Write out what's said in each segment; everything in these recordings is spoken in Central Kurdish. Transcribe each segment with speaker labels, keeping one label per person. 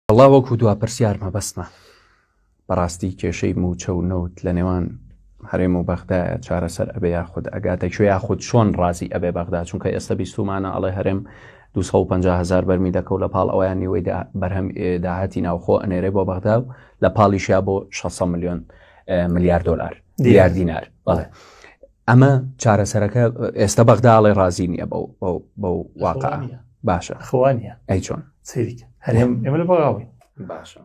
Speaker 1: وەڵا وەکو دوا پرسیار مەبەستمە بەڕاستی کێشەی موچە و نەوت لە نێوان هەرێم و بەغدایە چارەسەر ئەبێ یاخود ئەگاتە کوێ یاخود چۆن ڕازی ئەبێ بەغدا چونکە ئێستا بیستمانە ئەڵێ هەرێم 250هزار بەرمی دەکەوت لە پاڵ ئەویان نیوەی بەرهەم داهاتی ناوخۆ ئەنێرێ بۆ بەغدا و لە پاڵیشیا بۆ 600 میلیۆن ملیار دلار دیار دینار بەڵێ ئەمە چارەسەرەکە ئێستا بەغدا ئەڵێ ڕازی نییە بە واقع باشە خوانە ئەی چۆن
Speaker 2: سریکە
Speaker 1: هەرێم
Speaker 2: ئێمە لە بەغاوی باشە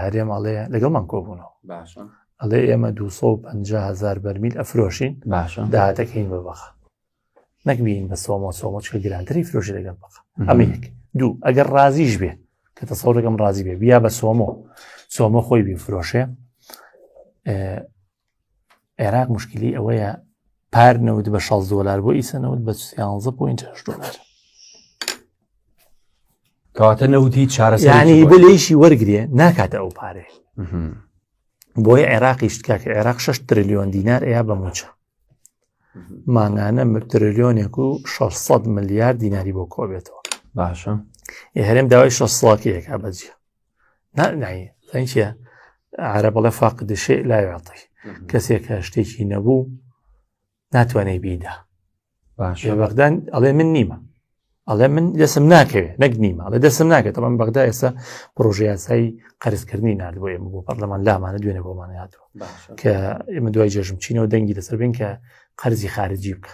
Speaker 1: هەرێم ئەڵێ
Speaker 2: لەگەڵمان کۆبوونەوە باشە
Speaker 1: ئەڵێ ئێمە 250
Speaker 2: هزار بەرمیل ئەفرۆشین باشە داهاتەکەین
Speaker 1: بە بەخە
Speaker 2: نەکبین بە سۆمە سۆمەچکە گرانتری فرۆشی لەگەڵ بەخە ئەمە یەک دوو ئەگەر ڕازیش بێ کە تەسەڕەکەم ڕازی بێ بیا بە سۆمۆ سۆمە خۆی بی فرۆشێ عێراق مشکلی ئەوەیە پار نەوت بە 16 دلار بۆ ئیسە نەوت بە 16 پوینت دلار
Speaker 1: کەواتە نەوتی چارەسانی بۆ لێشی
Speaker 2: وەرگێ ناکاتە ئەو پارێ بۆی عێراقی شتکە کە عێراق 6 تریلیۆن دینار ئەیە بە موچە مانگانە تریلیۆنێک و 600 ملیار دیناری بۆ کۆبێتەوە باشە
Speaker 1: هەرێم داوای
Speaker 2: 6 سڵاکیەکە بەجیە نایە عرە بەڵێ فاقد شێ لاوێڵی کەسێک کە شتێکی نەبوو ناتوانێت بیدا باشە
Speaker 1: بەغدان ئەڵێ
Speaker 2: من نیمە ئەڵێ من دەسم ناکەوێت نەک نیمە ئەڵێ دەسم ناکەێت تەمان بەغدا ئێستا پرۆژه یاسایی قەرزکردنی نرد بۆ ئێمە بۆ پەرلەمان لامانە دوێنێ بۆمان هاتووە کە ئێمە دوای جێژم چینەوە دەنگی لەسەر بین کە قەرزی خارجی بکە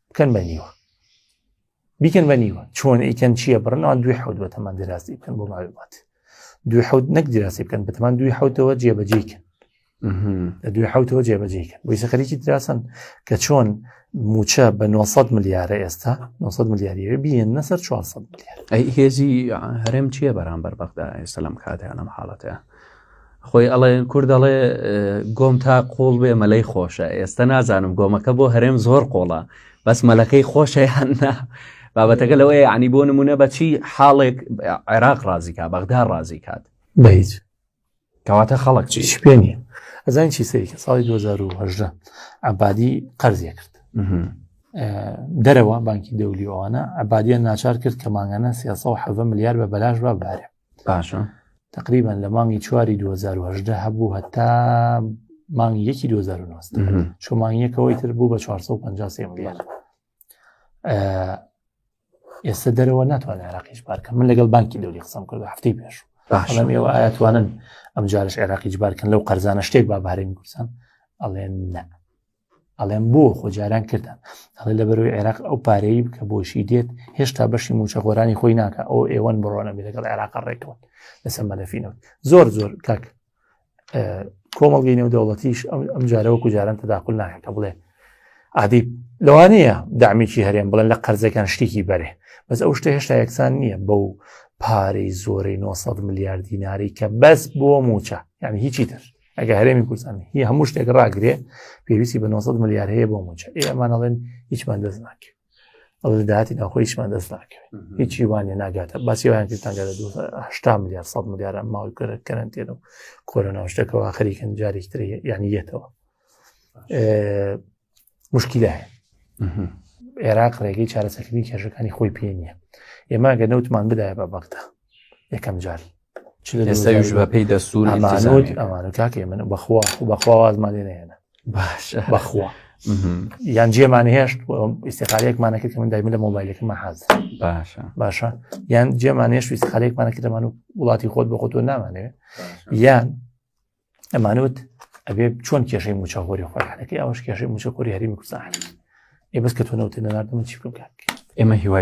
Speaker 2: بکەن بە نیوە بیکەن بە نیوە چۆن ئیکەن چییە بڕنەوە دوێ حوت بە تەمان دراسی بکەن بۆ ماوێبات دوێ حوت نەک دراسی بکەن بە تەمان دوی حوتەوە جێبەجێکن لە دوێ حوتەوە جێبەجێکن بۆی سەخەریکی دراسن کە چۆن موچە بە 900 ملیارە ئێستا 900 ملیاریەوە بیێن نەسەر 400 ملیار ئەی هێزی
Speaker 1: هەرێم چییە بەرامبەر بەغدا ئێستا لەم کاتیان لەم حاڵەتەیە خۆی ئەڵێ کورد دەڵێ گۆم تا قوڵ بێ مەلەی خۆشە ئێستا نازانم گۆمەکە بۆ هەرێم زۆر قۆڵە بەس مەلەکەی خۆشە هەننا بابەتەکە لەوەیە عنی بۆ نمونە بەچی حاڵێک عێراق ڕازیکا بەغدا ڕازی کات بەیت
Speaker 2: کەواتە
Speaker 1: خەڵک چی پێ نیە
Speaker 2: ئەزان چی سەریکە ساڵی 2010 عبادی قەرزیە کرد دەرەوە بانکی دەولی ئەوانە عبادیان ناچار کرد کە ماگانە 370 ملیار بە بەلاش بە بارێ باشە
Speaker 1: تقریبان لە
Speaker 2: مانگی چواری 2010 هەبوو هەتا مانگی یەکی 2009 شمانیەکەەوەی تر بوو بە 450 ملیار ئێستا دەرەوە ناتوانێت عراقیش بارکە من لەگەڵ بانکی دەوری قسم کرد هەفتەی پێش باشم ئێوە ئاەتوانن ئەم جارش عێراقی جبارکەن لەو قەرزانە شتێک بابارێن کوردستان ئەڵێن نە ئەڵێم بۆ خۆ جاران کردن ئەڵێ لە بەرەوەی عێراق ئەو پارەی کە بۆشی دێت هێشتا بەشی موچە خۆرانی خۆی ناکە ئەو ئێوەن بڕۆنە بێ لەگەڵ عێراق ڕێکەوە لەسەر مەلەفینەوە زۆر زۆر کاک کۆمەڵگەی نێو دەوڵەتیش ئەم جارەوە کوجاران تداخل ناکە بڵێ عادی لەوانەیە دامیکی هەرێم بڵێن لە قەرزەکان شتێکی بەرێ بەس ئەو شتە هێشتا یەکسان نییە بەو پارەی زۆرەی 900 ملیارد دیناری کە بەس بۆ موچە یعنی هیچی تر ئەگە هەرێمی کوردستان هی هەموو شتێک ڕاگرێ پێویستی بە 900 ملیار هەیە بۆ موچە ئێمانەڵێن هیچمان دەست ناکرێت ئەڵێ داهاتی ناخۆی هیچمان دەست ناکەوێت هیچی وانە ناگاتە باسیوان کردانگە لە 2 ملیار 100 ملیارە ماوەی کرە کەرنتێن و کۆرۆنا شتەکەەوە خەریکن جارێکتر یعنی یەتەوە مشکیلە هەیە عێراق ڕێگەی چارەسەکردنی کێشەکانی خۆی پێ نییە ئێمە گە نەوتمان بدایە بە بەغدا یەکەم جار ئێستاش
Speaker 1: بە پێی دەسوور ئەمانوت ئەمان و
Speaker 2: کاکە من بەخوا بەخوا وازمان لێ نێنە باش بەخوا یان جێمان هێشت ئیسقالێکمانە کرد کە من دایمە لە مۆبایلەکەمە حاز باشە باشە یان جێمان هێشت ئیسقالێکمانە کردەمان و وڵاتی خۆت بە خۆتۆ نامانەوێ یان ئەمانوت ئەبێ چۆن کێشەی موچەخۆری خۆی حەکەی ئەوش کێشەی موچەخۆری هەرمی کوردستان ئێ بەس کە تۆ نەوتە نەناردەمە چی
Speaker 1: بکەم
Speaker 2: کاک ئێمە هیوای